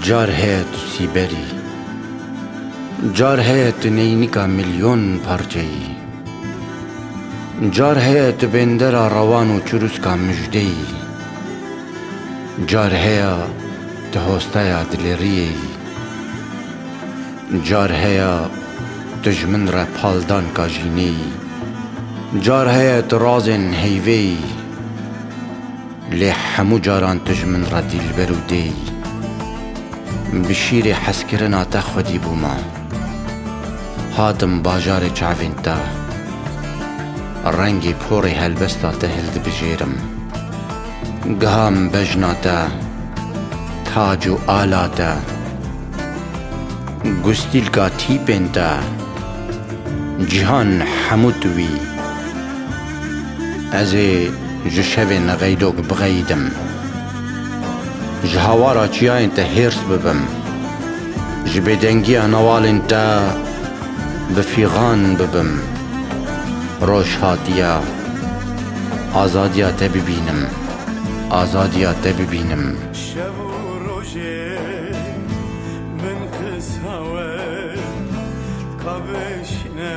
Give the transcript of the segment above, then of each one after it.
Car heye tu sîberî. Car heye tu neynika milyon parçeyî. Car heye tu bêndera rewan û çirûska mijdeyî. Car heye tu hosteya dilêriyeyî. Car heye tu ji min re paldanka jîneyî. Car heye tu razên heyveyî. Lê hemû caran tu ji min re dîlber û dê yî. Bi şîrê hezkirina te xwedî bûma. Hatim bajarê çavên te. Rengê porê helbesta te hildibijêrim. Giha min bejna te, tac û ala te, gustîlka tîpên te, cîhan hemû tu wî. Ez ê ji şevê neqeydok biqeyidim. Ji hawara çiyayên te hêrs bibim. Ji bêdengiya newalên te bi fîxan bibim. Roj hatiye azadiya te bibînim, azadiya te bibînim. Şev û rojê min qisa we dikabişîne.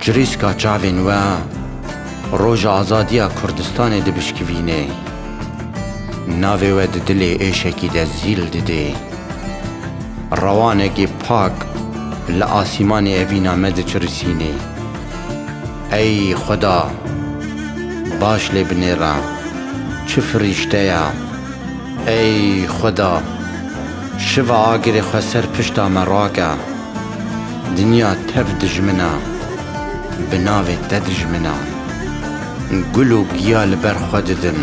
Çirîska çavên we roja azadiya Kurdistanê dibişkivîne. Navê we di dilê êşekî de zîl dide. Rewanekî pak li asîmanê evîna me diçirisîne. Ey Xweda! Baş lê binêra. Çi firîşte ye! Ey Xweda! Şiva agirê xwe ser pişta me rake. Dinya tev dijmin e. Bi navê te dijmin e. Gul û giya li ber xwe didin.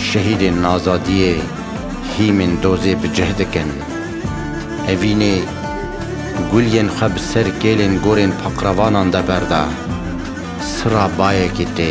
Şehîdên azadiyê hîmên dozê bi cih dikin. Evînê gul yên xwe bi ser kêlên gorên paqrevanan de berde. Sira bayekî tê.